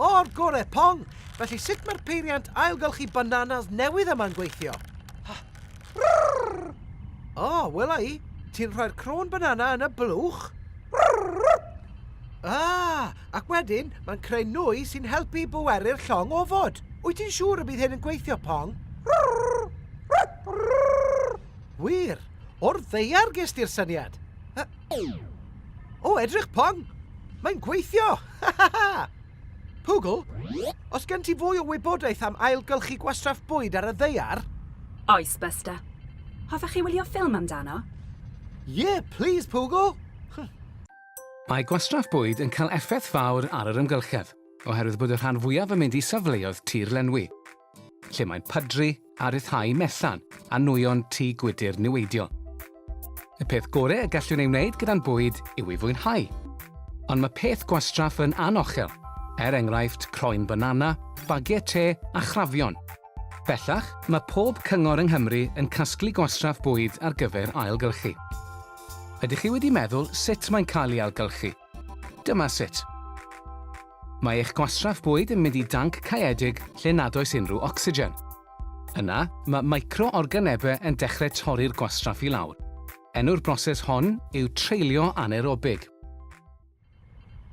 O'r gore, Pong! Felly sut mae'r peiriant ailgylchu bananas newydd yma'n gweithio? O, oh, wela i, ti'n rhoi'r crôn banana yn y blwch. Ah, ac wedyn mae'n creu nwy sy'n helpu i bweru'r llong ofod. Wyt ti'n siŵr y bydd hyn yn gweithio, Pong? Wir, o'r ddeiar ges di'r syniad. O, edrych pong! Mae'n gweithio! Ha ha ha! Pwgl, os gen ti fwy o wybodaeth am ailgylchu gwastraff bwyd ar y ddeiar? Oes, Buster. Hoffech chi wylio ffilm amdano? Ie, plis, Pwgl! Mae gwastraff bwyd yn cael effaith fawr ar yr amgylchedd, oherwydd bod y rhan fwyaf yn mynd i safleoedd tir lenwi. lle mae'n pydru a rhyddhau mellan a nwyon tŷ gwydr niweidiol. Y peth gorau y gallwn ei wneud gyda'n bwyd yw ei fwynhau. Ond mae peth gwastraff yn anochel, er enghraifft croen banana, bagiau te a chrafion. Bellach, mae pob cyngor yng Nghymru yn casglu gwastraff bwyd ar gyfer ailgylchu. Ydych chi wedi meddwl sut mae'n cael ei ailgylchu? Dyma sut. Mae eich gwastraff bwyd yn mynd i danc caeedig lle nad oes unrhyw ocsigen. Yna, mae micro-organebau yn dechrau torri'r gwastraff i lawr. Enw'r broses hon yw treulio anaerobig.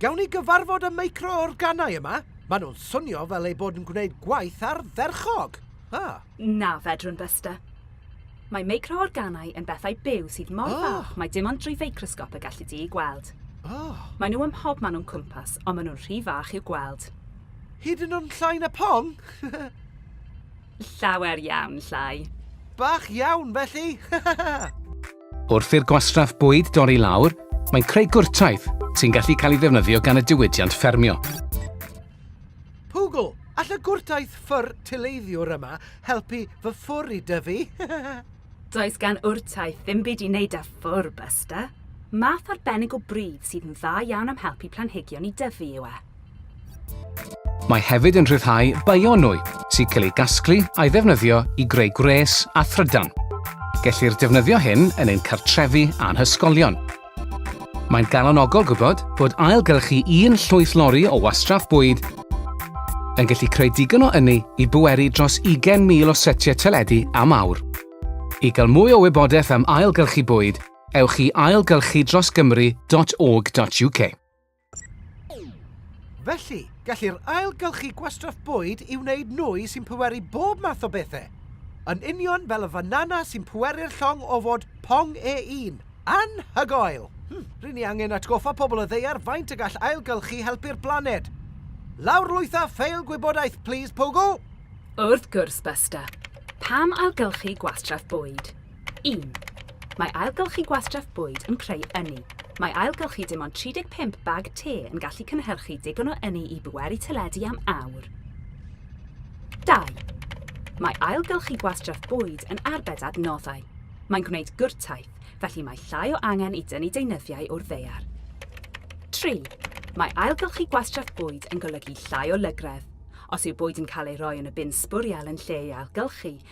Gawn ni gyfarfod y micro-organau yma? Maen nhw'n swnio fel eu bod yn gwneud gwaith ardderchog! Ah. Na, fedrwn, Buster. Mae meicroorganau yn bethau byw sydd mor oh. fach mae dim ond drwy feicrosgop y gallu di i gweld. Oh. Mae nhw ym mhob man o'n cwmpas, ond maen nhw'n rhy fach i'w gweld. Hyd yn o'n llai na pon? Llawer iawn llai. Bach iawn, felly! Wrth i'r gwastraff bwyd dorri lawr, mae'n creu gwrtaith sy'n gallu cael ei ddefnyddio gan y diwydiant ffermio. Pwgl, all y gwrtaith ffwr tileiddiwr yma helpu fy ffwr i dyfu? Does gan wrtaith ddim byd i wneud â ffwr, Buster. Math arbennig o bridd sydd yn dda iawn am helpu planhigion i dyfu yw e. Mae hefyd yn rhyddhau bionwy sy'n cael ei gasglu a'i ddefnyddio i greu gwres a thrydan. Gellir defnyddio hyn yn ein cartrefi a'n hysgolion. Mae'n galonogol gwybod bod ailgylchu un llwyth lori o wastraff bwyd yn gallu creu digon o ynni i bweru dros 20,000 o setiau teledu am awr. I gael mwy o wybodaeth am ailgylchu bwyd, ewch i ailgylchudrosgymru.org.uk. Felly, gellir ailgylchu gwastraff bwyd i wneud nwy sy'n pweru bob math o bethau. Yn union fel y fanana sy'n pweru'r llong o fod pong e un. Anhygoel! Hm, ry'n ni angen atgoffa pobl y ddaear faint y gall ailgylchu helpu'r blaned. Lawrlwytha ffeil gwybodaeth, plis, Pogo! Wrth gwrs, Buster. Pam ailgylchu gwastraff bwyd? 1. Mae ailgylchu gwastraff bwyd yn creu ynni. Mae ailgylchu dim ond 35 bag te yn gallu cynhyrchu digon o ynni i bweru teledu am awr. 2. Mae ailgylchu gwastraff bwyd yn arbed adnoddau. Mae'n gwneud gwrtaith, felly mae llai o angen i dynnu deunyddiau o'r ddeiar. 3. Mae ailgylchu gwastraff bwyd yn golygu llai o lygredd. Os yw bwyd yn cael ei roi yn y bin sbwriel yn lle ei ailgylchu,